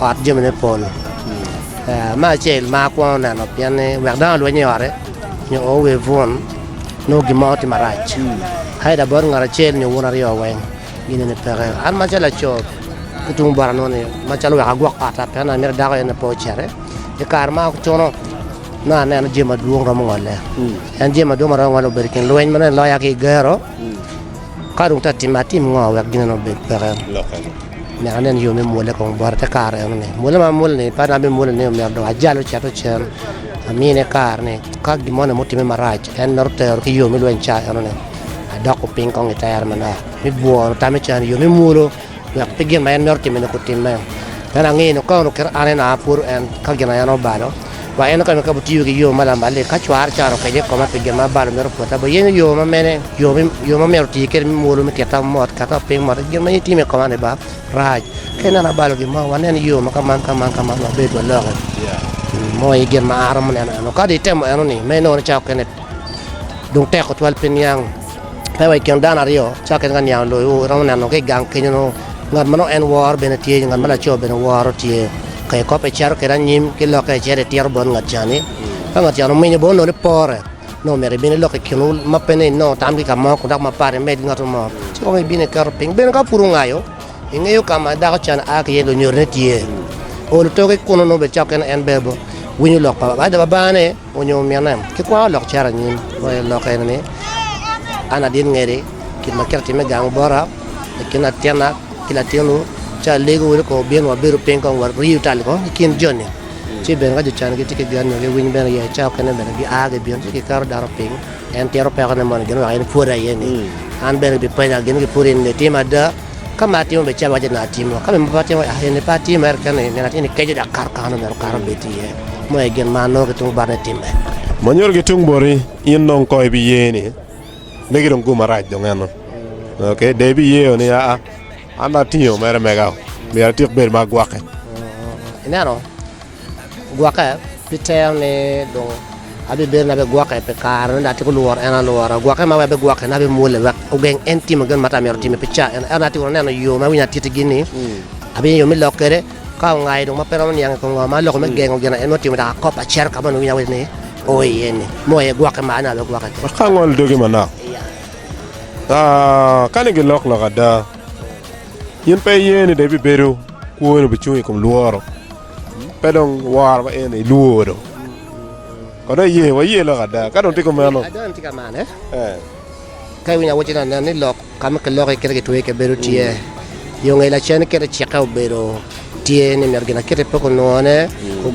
Ot jamine pol. Me acel, mar kwongo neno pien ni wek dano olweny i ote nyo ower bun nongo gin mo tye marac. Haida bot ngat acel nyo wun aryo weng gin eni peke. An macalo laco ki tung bota nongo ni macalo wek agwok otta pien nongo amito dako en aye pe ocere. I kare ma acuno nongo aneno jami madwong romo ngole. En jami madwong ma romo ngole obedo i kin lweny ma nongo eloya ki i gero. Ka dong tek timme, atim ngo wek ginena obed peke? Myero anen yo me mwole kong bota te kare eno-ni. Mwole ma amwole-ni, pe an aye amwole ni omyero dong ajale ocit ocen, amine kare ni ka gin moni mutimme marac, en mito tero ki yo me lweny ca eno-ni, adoko piny kong i tere manok, me bworo tamme ca ni yo me mwolo. Wek pe gin ma en mito timmi-ni kutimme. Meno angeyo ni ka onongo kit an en aa pwod en, ka gin aye an obalo, wa en oketo kabo tiyo ki yo ma lamal-li. Ka cware caro okece i koma pi gin ma abalo mito pwota, wuyenyo yo ma mene, yo me, yo ma myero oti kwede me mwolo me kita mot, kata oping mot ki gin ma in itimo i koma-ni ba, rac. Ka ineno abalo gin mo, wanen yo ma ka man, ka man, ka man, wa bed waloke. Mo aye gin ma an aromo neno eno. Ka dong itemo eno-ni, meno inongo ni cawa okene dong tek tutwal piniang Pe wa i kin dano aryo, cakke ki ka niang loyo, iromo neno ki i gang kenyo nongo ngat ma nongo en woro bene tye, nyo ngat ma laco bene woro tye. Ka ikop icito kwede anyim ki lokke icito itito bot ngat ca-ni, ka ngat ca-ni ominyo bot nongo ni pore, nongo myero ibin ilok i kinwu ma pe ni inongo tam ki ka mo kun dok mapat imed ki ngat mo, ci kong ibin iketo piny. Bene ka pud wungayo, ingeyo ka ma dako ca-ni a ki iye lunyodone tye, ol otoke kunnu nongo bene cakke ni en bene winyo lok pa Babane. Onyo omine. Kikwako lok cito anyim ma i lok eni ni, An adit ngedi gin ma kit atimme gang bota i kin latinna ki latinwu, ci alego wunu kong wubin wabedo piny kong wariyu tal kong ki kin joni. Ci bene ka jo can gitye ki gen nyo giwiny bene iye, ca okene bene gia gibino ci giketo dano piny, en tito pekone moni gin wek en pwod aye-ni. An bene gibipenya gin ni, Pud in itimo ada? Ka ma atimo bene calo iwacce ni atimo, ka bene ma pe atimo yako in ni pe atimo ento keni ineno atye ni keco dok kato kare-nu myero kare obed tye iye. Meno aye gin ma an nongo ki tung bota ni timme. Ma nyuto ki tung boti in dong kong ibiye ni megi dong gumarac dong eno ok dong ibiye o ni aa an dong atingo mere mega o myero atik bed ma agwokke. Ineno? Gwokke pi tero ni dong abibedo na bigwokke pi kare ne dok atyeko lworo en alwora. Gwokke ma wek abigwokke ni abimwole wek ogeng en timo gin ma ata myero otime pi ca eno. Ento atyeko neno yo ma winyo atitigi ni abiyenyo yo me lok kwede ka ongayo dong ma pe romo niang i kom ngo ma aloko me gengo gin en otimo dok akop acito ka ma onongo winyo awaco ni o iye ni. Mo aye gwokke ma an abigwokke kwede. Ka angolo dogi manok, kani gilok lok ada. In pe iye ni dong ibibedo kwoni obicung i kom lworo, pe dong woro pa en-ni ilwor dong. Kono iye, waye lok ada. Ka dong tye kumeno, Ada en tye ka mane? Ka iwinyo awacci ni anen ni lok ka ma kiloki kite kitweyo iye kabedo tye, yo ngeye lacen kit ecike obedo. Tye ni myero ginakite pe gunwone,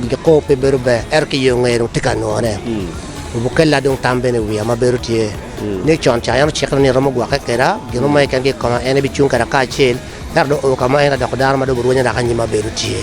giko pe bedo ber, ento ki yo ngeye dong tye ka nwone. Obukella dong tam bene i wiya ma bedo tye ni con ca en ocikna ni romo gwokke keda, gin mo keken ki koma en ebicung keda kacel, ento dong oo kama en adoko dano ma dong burwenye dok anyim ma bedo tye.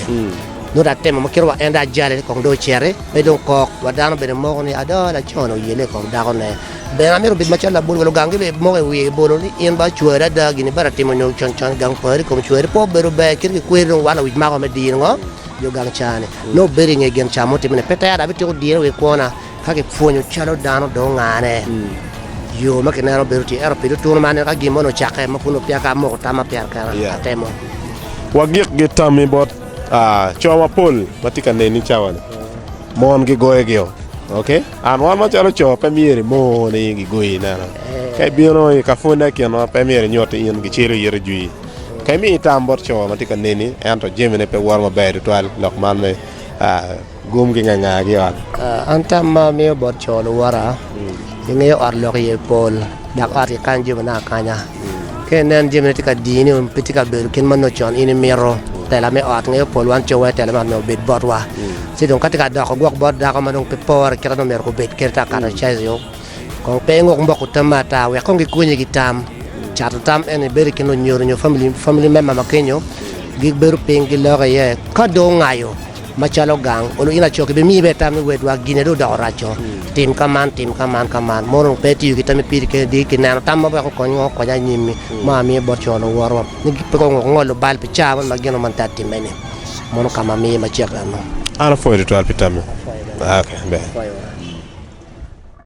Nongo dong atemo ma kite wa en dong ajale ni kong dong ociti pe dong kok, wa dano bene moko ni adoo lacone oyelle i kom dakone. Bene amito obed macalo labol ma lugang gibed moko i wiye bolo ni in ba cwari ada gin ibade atimo nyo con con i gang pari kom cwari pe obedo ber kit ki kweri dong wal awic mako me diro ngo yo gang caa ni nongo obedo inge gen caa mo timone pe tera abitiko diro wi kwona ka ki pwonyo calo dano dong ngane yo ma kineno bedo tye ento pi tutunu ma aneno ka gin mo ni ocake ma pwonyo peya ka amoko tam ma pyer kena atemo wa gik gi tami bot coo mapol ma tye ka neni cawa ni mon gi goyo gi o ok. An wan macalo co pe myero imor ni gigoyi i nena. Ka ibino i ka pwonne i kinwa, pe myero inyut ni in gicelo iri i jwi. Ka imiyo itam bot co ma tye ka neni ento jamine pe woro maber tutwal lok man me gum ki ngangangagi i ot. An tam ma amiyo bot co luwota, Ingeyo ot lok iye pol, dok ot kikany jamina akanya. Ka inen jami ma tye ka dini onongo pe tye ka bedo kit ma nongo con in imito. Tela me ot, ngeyo pol wan cowa aye tela me ot myero obed botwa. Ci dong ka tye ka doko gwok bot dako ma dong pe pore kit ma dong myero gubed kwede ata kare cayo, kong pe inguk mbok utamme ata wek kong gikonyi ki tam. Cato tam eni bedo i kin lunyodo nyo famili, famili member ma kenyo, gibedo piny giloke iye. Ka dong ongayo. Macalo gang, kun in aco kibimiyi bene tam ni wed wa gine dong odoko raco, tim ka man, tim ka man ka man. Mono onongo pe itiyo ki tammi piri keni di kineno tam ma weko kony ongo kony anyimmi ma amiyo bot co luwotwa ni pe gung ongolo bal pi caa moni ma gin man ta timme ni. Mono ka ma miye macek eno. An apwoyo tutwal pi tammi. Apwoyo bene. Apwoyo.